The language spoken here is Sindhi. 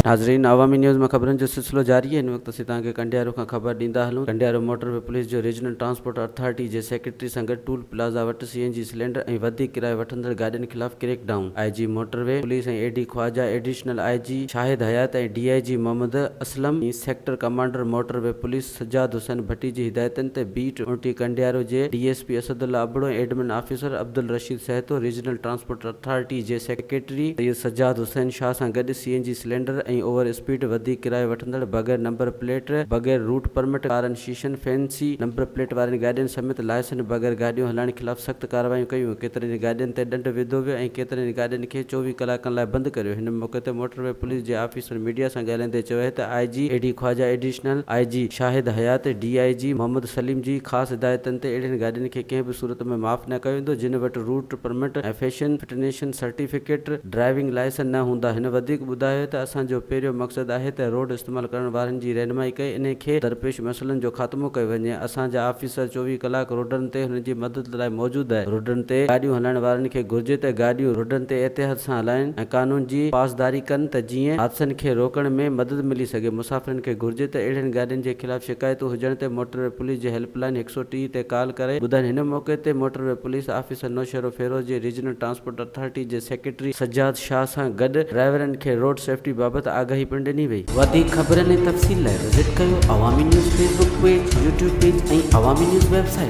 ناظرين عوامي نيوز ۾ خبرن جو سلسلو جاري هن وقت اسين توهان کي ڪنڊيارو کان خبر ڏيندا هلون ڪنڊيارو موٽر وي پوليس جو ريجنل ٽرانسپورٽ اٿارٽي جي سيڪريٽري سان گڏ ٽول پلازا وٽ سي اين جي سلينڊر ۽ وڌيڪ ڪرايو وٺندڙ گاڏين خلاف creek down I G motorway police ۽ A D Khawaja additional I G Shahid Hayat ۽ D I G Muhammad Aslam ۽ sector commander motorway police Sajjad Hussain Bhatti جي هدايتن تي بيٽ ٽي ڪنڊيارو جي D S P Asad Allah Abro ۽ admin officer Abdul Rasheed Sahto, regional transport authority جي سيڪريٽري سيد سجاد حسين شاهه سان گڏ C N G cylinder ۽ over speed وڌيڪ ڪرايو وٺندڙ، بغير نمبر پليٽ، بغير روٽ پرمٽ، ڪارن شيشن، فينسي نمبر پليٽ وارين گاڏين سميت لائسنس بغير گاڏيون هلائڻ خلاف سخت ڪارروايون ڪيون، ڪيترين ئي گاڏين تي ڏنڊ وڌو ويو ۽ ڪيترين ئي گاڏين کي چوويهه ڪلاڪن لاء بند ڪريو، هن موقعي تي موٽر وي پوليس جي آفيسر. سنڌ ميڊيا سان ڳالهائيندي چيو آهي ته I G A D Khawaja additional I G Shahid Hayat D I G Muhammad Saleem جي خاص هدايتن تي اهڙين گاڏين کي ڪنهن به صورت ۾ معاف نه ڪيو ويندو جن وٽ route permit ۽ fashion fitness certificate driving licence نه هوندا هن وڌيڪ ٻڌايو ته اسان جو پهريون مقصد آهي ته روڊ استعمال ڪرڻ وارن جي رهنمائي ڪئي انهي کي درپيش مسئلن جو خاتمو ڪيو وڃي اسان جا آفيسر چوويهه ڪلاڪ روڊن تي هنن جي مدد لاء موجود آهي، روڊن تي گاڏيون هلائڻ وارن کي گهرجي ته گاڏيون روڊن تي احتياط سان هلائين ۽ قانون جي پاسداري ڪن ته جيئن حادثن کي روڪڻ ۾ مدد ملي سگهي، مسافرن کي گهرجي ته اهڙين گاڏين جي خلاف شڪايتون هجڻ تي موٽروي پوليس جي هيلپ لائين هڪ سؤ ٽي تي ڪال ڪري ٻڌائين، هن موقعي تي موٽروي پوليس آفيسر نوشهروفيروز جي ريجنل ٽرانسپورٽ اٿارٽي جي سيڪريٽري سجاد شاهه سان گڏ ڊرائيورن کي روڊ سيفٽي بابت آگاهي پڻ ڏني وئي. وڌيڪ خبرن ۽ تفصيل لاء وزٽ ڪيو Awami news Facebook page, YouTube page ۽ Awami news web site.